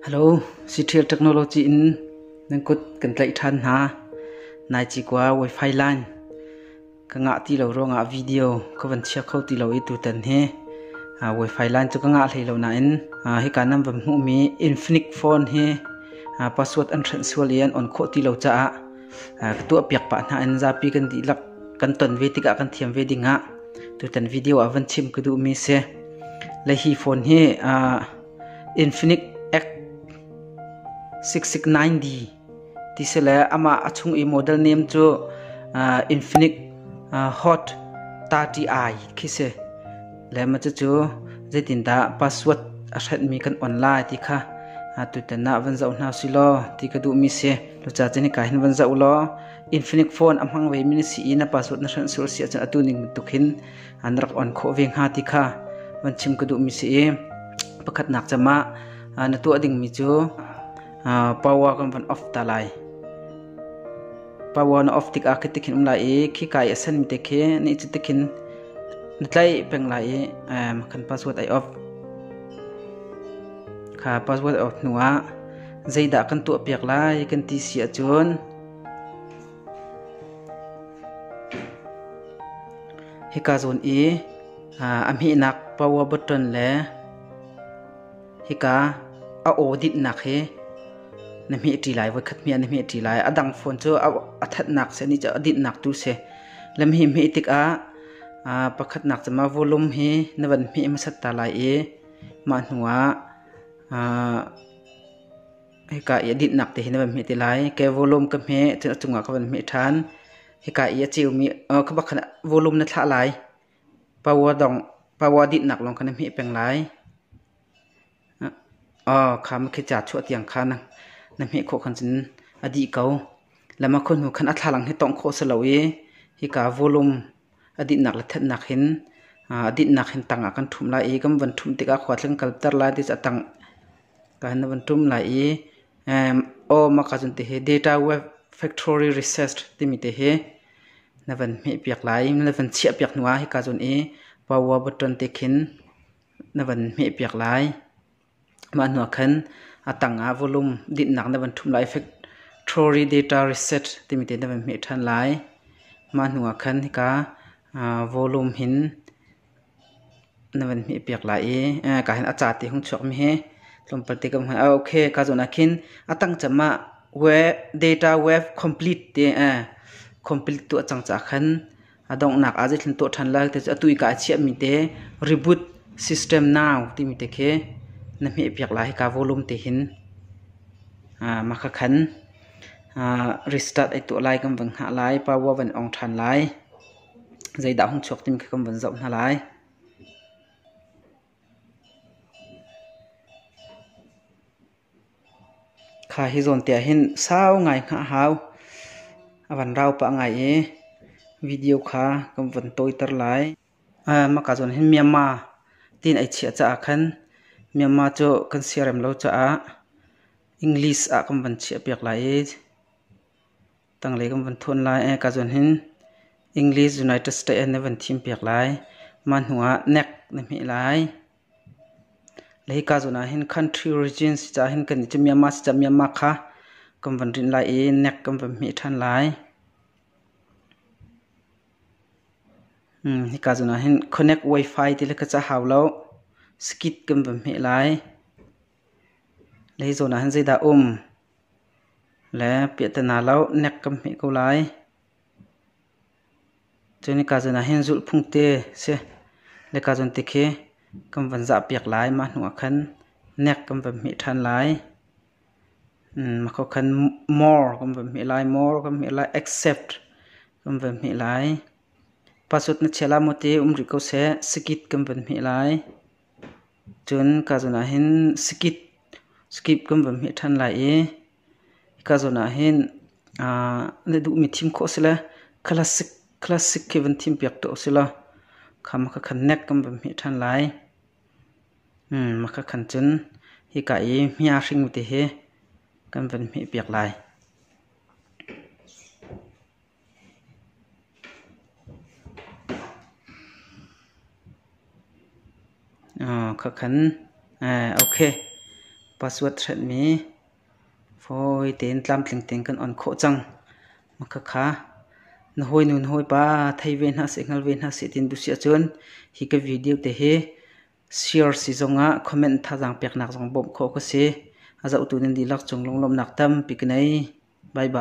Hello, Citrial Technology in nan kut kan tlaih ṭhan hna. Nai cikua Wi-Fi line ka ngah ti lo ruangah video ka van chia kho ti lo i tutan hi uh, Wi-Fi line cu ka ngah hlei lo nain uh, hika nan van hmuhmi Infinix phone hi uh, password an hrenh sual i an on khawh ti lo caah uh, ka tuahpiak pah hna in zapi kan dihlak kan ton ve tikah kan thiam ve dingah tutan video ah van chim ka duhmi si. Le hi phone hi uh, Infinix X669D ti si le amah a chung i model name cu Infinix Hot 30i khi si. Le mah cucu zeitindah password a hrenhmi kan on lai ti kha tutan ah van zoh hna usih law ti ka duhmi si. Cucaah cun hika hin van zoh law Infinix phone a hmang vemi na si i na password na hrenh sur a si ahcun atu ning bantuk hin an rak on khawh ve hnga ti kha van chim ka duhmi si i pakhatnak cam ah na tuah dingmi cu power kan van off ta lai power na off tikah khi tikhin um lai i khi kai a sanmi te khi ni cu tikhin na tlaih peng lai i kan password ai off kha password off hnu ah zeidah kan tuah piak lai kan ti si ahcun Hika zawn i a hmehnak power button le hika a aw dinhnak hi na hmeh ṭi lai. Voikhat hmeh ah na hmeh ṭi lai. A dang phone cu a thatnak si, a dinhnak tu si. Lam hi hmeh tikah pakhatnak cem ah volume hi na van hmeh hmasat ta lai i mah hnuah hika i a dinhnak te hi na van hmeh te lai ke volume ka hmeh cun a cungah ka van hmeh ṭhan hika i a ceumi khabak khan volume na thlah lai power dong power dinhnak lawng kha na hmeh peng lai aw kha ma khi ca chuah tiang kha na na hmeh khawh khan cun a dih ko lama khawhnu khan a thlalang hi tongh khawh si lo i hika volume a dinhnak le thenhnak hin a dinhnak hin tang ah kan ṭhumh lai i kan van ṭhumh tikah khua tling kalter lai ti cu a tang kan van ṭum lai i Awma ka cun ti hi Data Web Factory Research timi te hi na van hmehpiak lai na van chiahpiak hnu ah hika cun i Power button te khin na van hmehpiak lai. Mah hnuah khan a tangah volume dinhnak na van ṭhumh lai. Effectuary data reset timi te na van hmeh ṭhan lai. Mah hnuah khan hika volume hin na van hmehpiak lai i kaa hin a ca te hung chuakmi hi tlawmpal te kan hmuh. Okay, kaa zawn ah khin a tangcem ah data wave complete te complete tu a cang caah khan A donghnak ah zeithlun tuah ṭhan lai te cu atu i ka a chiahmi te reboot system now timi te khi na hmehpiak lai hika volume te hin uh, maka khan uh, restart ai tuah lai kan van ngah lai power van ong ṭhan lai zeidah hung chuak timi khi kan van zoh hna lai Kha hi zawntiah hin sau ngai hngah hau. A van rau pah ngai i video kha kan van tawiter lai. Mah ka zawn hin Myanmar tiin ai chiah caah khan Myanmar cu kan si a rem lo caah English ah kan van chiah piak lai i. Tanglei kan van thuan lai ka zun hin English United States na van thim piak lai mah hnu ah nek na hme lai lei ka zun ah hin country regions cha hin kan ci Myanmar cha Myanmar kha kan van rin lai i nek kan van hme than lai hi ka zun ah hin connect wifi ti le ka cha hau lo skit kan van hme lai Lei zawn ah hin zeidah a um? Le piah ti hna law nek kan hmeh ko lai. Cun nika zawn ah hin zulhphung te si. Le kaa zawn te khi kan van zahpiak lai. Mah hnu ah khan nek kan van hmeh ṭhan lai. Mah kho khan more kan van hmeh lai. More kan hmeh lai. Accept kan van hmeh lai. Pasut na chiah la maw ti um rih ko seh. Sakit kan van hmeh lai. Cun ka zawn ah hin skip kan van hmeh ṭhan lai i ka zawn ah hin na duhmi thim khawh a si le classic khi van thimpiak tuah u sila kha makha khan neck kan van hmeh ṭhan lai. Makha khan cun hika i hmia hring te hi kan van hmehpiak lai. Password hretmi fawi tein tlamtling tein kan on khawh cang. Makhakha na hawinu na hawipa thei ve hna seh, hngal ve hna seh tiin dusi ahcun hi ka video te hi share si zongah comment thazaang peknak zong bawmh khawh ka si. A zohtu nan dihlak cung lunglawmhnak tampi ka ngei. Bye bye.